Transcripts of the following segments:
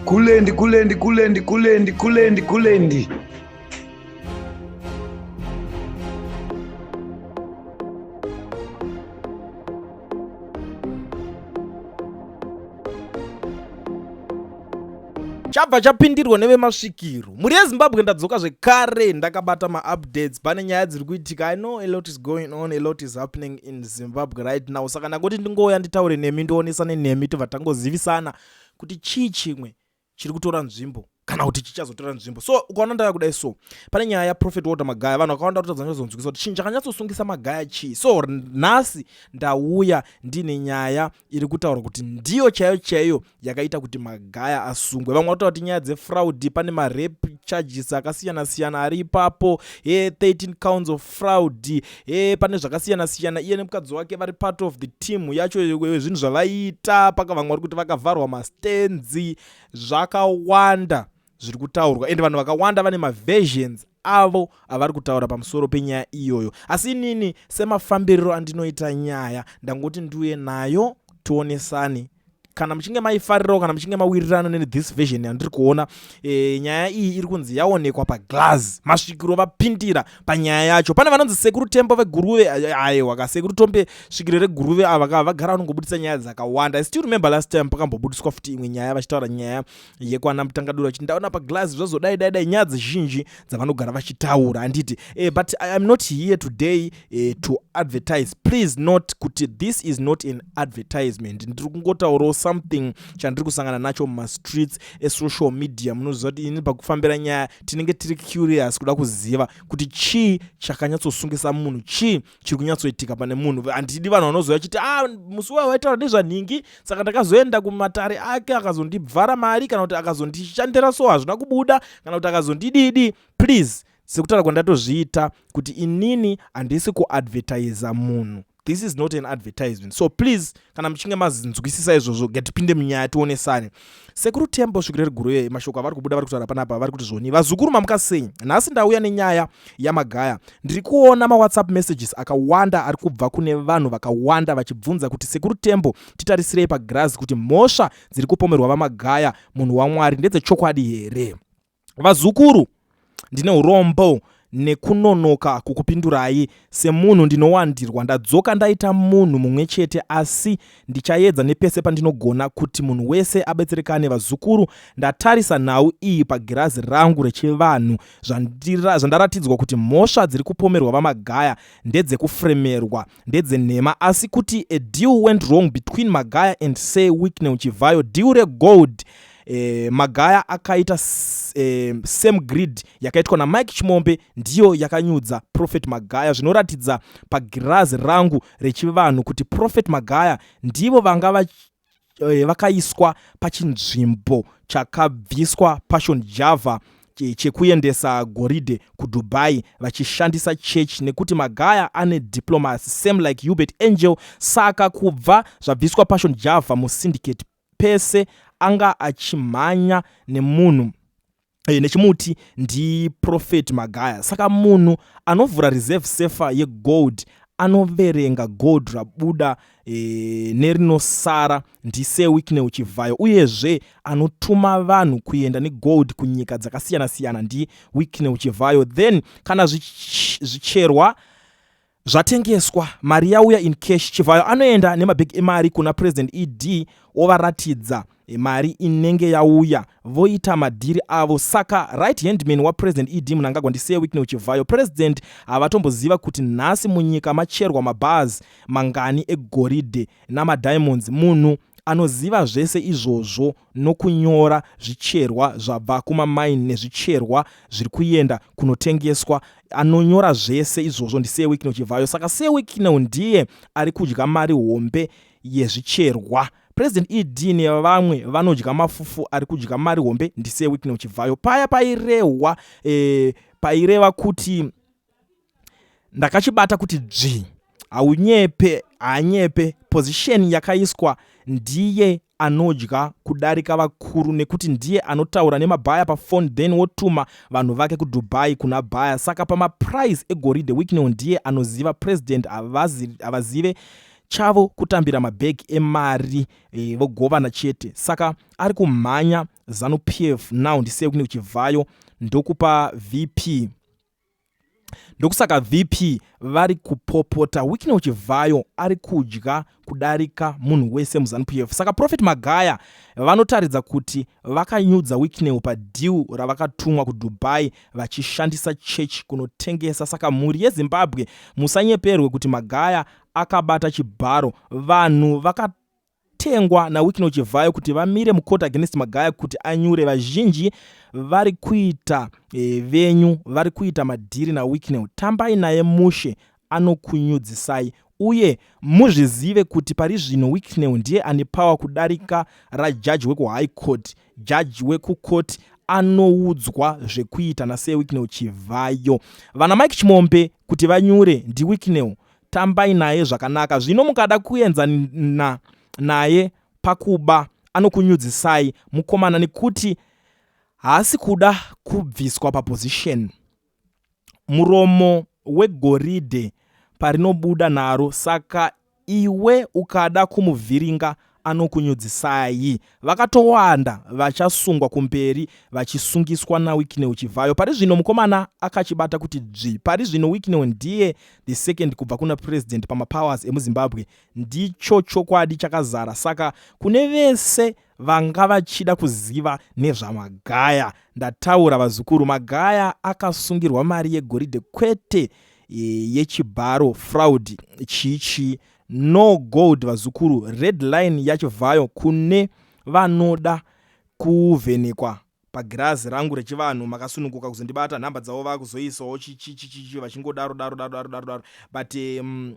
Kulendi, kulendi, kulendi, kulendi, kulendi, kulendi. chabva chapindirwa nevemasvikiro mhuri yezimbabwe ndadzoka zvekare ndakabata maupdates pane nyaya dziri kuitika i know a lot is going on a lot is happening in zimbabwe right now saka ndangoti ndingouya nditaure nemi ndionesane nemi tobva tangozivisana kuti chii chimwe chiri kutora nzvimbo kana kuti chichazotora nzvimbo so ukaona ndava kudai so pane nyaya yaprofet walter magaya vanhu vakawanda kutadza nyazonzwikisa kuti chinhu chakanyatsosungisa magaya chii so nhasi ndauya ndiine nyaya iri kutaura kuti ndiyo chaiyo chaiyo yakaita kuti magaya asungwe vamwe vatotaura kuti nyaya dzefraudi pane marep charges akasiyana siyana ari ipapo he 13 counts of fraud eh pane zvakasiyana siyana iye nemukadzi wake vari part of the team yacho zvinhu zvavaiita paka vamwe vari kuti vakavharwa mastenzi zvakawanda zviri kutaurwa ende vanhu vakawanda vane maversions avo avari kutaura pamusoro penyaya iyoyo asi inini semafambiriro andinoita nyaya ndangoti ndiuye nayo tionesane kana muchinge maifarirawo kana muchinge mawirirana nethis version yandiri kuona e, nyaya iyi iri kunzi yaonekwa paglas masvikiro vapindira panyaya yacho pane vanonzi sekuru tembo veguruve eh, aiwa ka sekuru tombe svikiro reguruve ava ka vagara vanongobudisa nyaya dzakawanda i still remember last time pakambobudiswa futi imwe nyaya vachitaura nyaya yekwana mutangadura kuti ndaona paglazi zvazodai dai dai nyaya dzizhinji dzavanogara vachitaura anditi eh, but i am not here today eh, to advertise please not kuti this is not an advertisement ndiri kungotaurawo something chandiri kusangana nacho mumastreets esocial media munoziva kuti ini pakufambira nyaya tinenge tiri curious kuda kuziva kuti chii chakanyatsosungisa munhu chii chiri kunyatsoitika pane munhu handidi vanhu vanozouya chiti a ah, musi wayo waitaura nezvanhingi saka ndakazoenda kumatare ake akazondibvara mari kana kuti akazondishandira so hazvina kubuda kana kuti akazondididi please sekutaura kwandatozviita kuti inini handisi kuadvertiza munhu this is not an advertisement so please kana muchinge mazinzwisisa izvozvo ngatipinde munyaya tionesane Sekuru Tembo svikiro riguru yeye mashoko avari kubuda vari kutaura panapa vari kuti zvoni vazukuru mamuka sei nhasi ndauya nenyaya yamagaya ndiri kuona mawhatsapp messages akawanda ari kubva kune vanhu vakawanda vachibvunza kuti sekuru Tembo titarisirei pagirazi kuti mhosva dziri kupomerwa vamagaya munhu waMwari ndedzechokwadi here Vazukuru, ndine urombo nekunonoka kukupindurai. Semunhu ndinowandirwa, ndadzoka ndaita munhu mumwe chete asi ndichaedza nepese pandinogona kuti munhu wese abetserekane. Vazukuru, ndatarisa nhau iyi pagirazi rangu rechivanhu zvandira, zvandaratidzwa kuti mhosva dziri kupomerwa VaMagaya ndedzekufremerwa, ndedzenhema asi kuti a deal went wrong between Magaya and Sir Wicknell Chivhayo, deal regold eh, magaya akaita eh, same grid yakaitwa namike chimombe ndiyo yakanyudza prophet magaya zvinoratidza pagirazi rangu rechivanhu kuti prophet magaya ndivo vanga vach, eh, vakaiswa pachinzvimbo chakabviswa passion java chekuendesa goridhe kudubai vachishandisa church nekuti magaya ane diplomacy same like hubert angel saka kubva zvabviswa passion java musyndicate pese anga achimhanya nemunhu eh, nechimuti ndiprofet magaya saka munhu anovhura reserve sefa yegold anoverenga gold rabuda e, nerinosara ndise wicknel chivhayo uyezve anotuma vanhu kuenda negold kunyika dzakasiyana-siyana ndi wicknel chivhayo then kana zvicherwa zvichi Zvatengeswa, mari yauya in cash, Chivhayo anoenda nemabhegi emari kuna President ED ovaratidza mari inenge yauya voita madhiri avo saka right handman wapresident ed munangagwa ndisir wicknel chivhayo president havatomboziva kuti nhasi munyika macherwa mabars mangani egoridhe namadiamonds munhu anoziva zvese izvozvo nokunyora zvicherwa zvabva kumamaini nezvicherwa zviri kuenda kunotengeswa anonyora zvese izvozvo ndisee wikino chivhayo saka see wikino ndiye ari kudya mari hombe yezvicherwa president ed nevamwe vanodya mafufu ari kudya mari hombe ndisee wikino chivhayo paya pairehwa e, paireva kuti ndakachibata kuti dzvi haunyepe haanyepe position yakaiswa ndiye anodya kudarika vakuru nekuti ndiye anotaura nemabhaya pafone then wotuma vanhu vake kudubai kuna bhaya saka pamaprize egoridhe wicknel ndiye anoziva president havazive chavo kutambira mabag emari e, vogovana chete saka ari kumhanya zanupf now ndiseyokune kuchivhayo ndokupa vp ndokusaka vp vari kupopota wikney uchivhayo ari kudya kudarika munhu wese muzanup f saka profet magaya vanotaridza kuti vakanyudza wikney padhiu ravakatumwa kudubai vachishandisa chechi kunotengesa saka mhuri yezimbabwe musanyeperwe kuti magaya akabata chibharo vanhu vaka tengwa naWicknell Chivhayo kuti vamire mucourt against Magaya kuti anyure vazhinji vari kuita e, venyu vari kuita madhiri naWicknell. Tambai naye mushe anokunyudzisai uye muzvizive kuti pari zvino Wicknell ndiye ane power kudarika rajaji wekuhigh court, jaji wekucourt anoudzwa zvekuita naSir Wicknell Chivhayo. Vana Mike Chimombe kuti vanyure ndiWicknell tambai naye zvakanaka zvino mukada kuenza na, naye pakuba anokunyudzisai mukomana nekuti haasi kuda kubviswa paposition muromo wegoridhe parinobuda naro saka iwe ukada kumuvhiringa anokunyudzisai. Vakatowanda vachasungwa kumberi vachisungiswa naWicknell Chivhayo. Pari zvino mukomana akachibata kuti dzvi. Pari zvino Wicknell ndiye the second kubva kuna president pamapowers emuZimbabwe. Ndicho chokwadi chakazara saka kune vese vanga vachida kuziva nezvaMagaya. Ndataura vazukuru, Magaya akasungirwa mari yegoridhe kwete e, yechibharo fraud chii chii No gold vazukuru red line yacho vhayo kune vanoda kuvhenekwa pagirazi rangu rechivanhu makasununguka kuzondibata nhamba dzavo vakuzoisawo chichichichichi vachingodaro daro daro daro daro daro but um,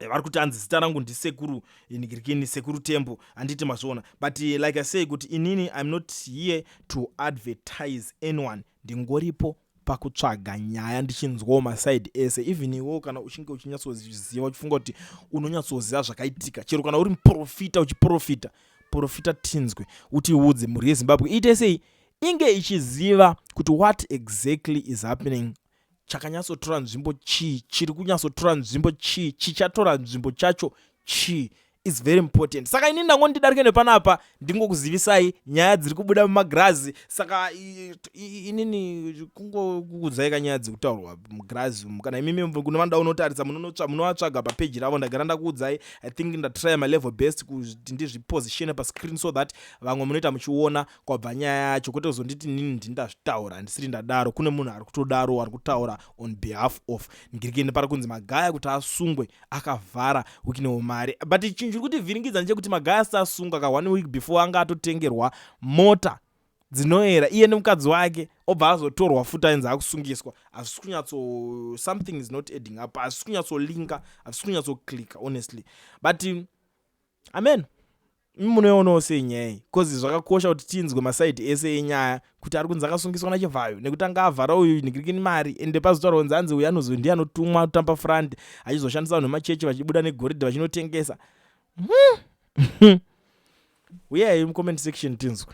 vari kuti hanzi zita rangu ndisekuru nigirikini sekuru tembo handiti mazviona but eh, like i say kuti inini im not here to advertise anyone ndingoripo pakutsvaga nyaya ndichinzwawo maside ese even iwewo kana uchinge uchinyatsoziva uchifunga kuti unonyatsoziva zvakaitika chero kana uri muprofita uchiprofita profita tinzwe utiudze mhuri yezimbabwe iite sei inge ichiziva kuti what exactly is happening chakanyatsotora nzvimbo chii chiri kunyatsotora nzvimbo chii chichatora nzvimbo chacho chii is very important saka ini ndango ndidarike nepanapa ndingokuzivisai nyaya dziri kubuda mumagirazi saka inini kungokuudzai kanyaya dziri kutaurwa mugirazi umu kana imimi kune vanoda unotarisa munovatsvaga papeji ravo ndagara ndakuudzai i think ndatry my level best kuti ndizvipositione pascreen so that vamwe munoita muchiona kwabva nyaya yacho kwete kuzonditi nini ndini ndazvitaura handisiri ndadaro kune munhu ari kutodaro ari kutaura on behalf of ngirikende pari kunzi magaya kuti asungwe akavhara wiknewo mari but chinhu chiri kuti vhiringidza ndechekuti magaya asati asungwa ka one week before anga atotengerwa mota dzinoera iye nemukadzi wake obva azotorwa futi ainzi akusungiswa hazvisi kunyatso something is not adding up hazvisi kunyatsolinka hazvisi kunyatsoklika honestly but amen Imi munoionawo sei nyaya iyi coz zvakakosha kuti tinzwe maside ese enyaya kuti ari kunzi akasungiswa nachivhayo nekuti anga avhara uyu nhikrikini mari ende pazotaurwa kunzi anzi uyu anozoi ndiye anotumwa tampa front achizoshandisa vanhu vemachechi vachibuda negoridhe vachinotengesa hmm. huyai mucomment section tinzwe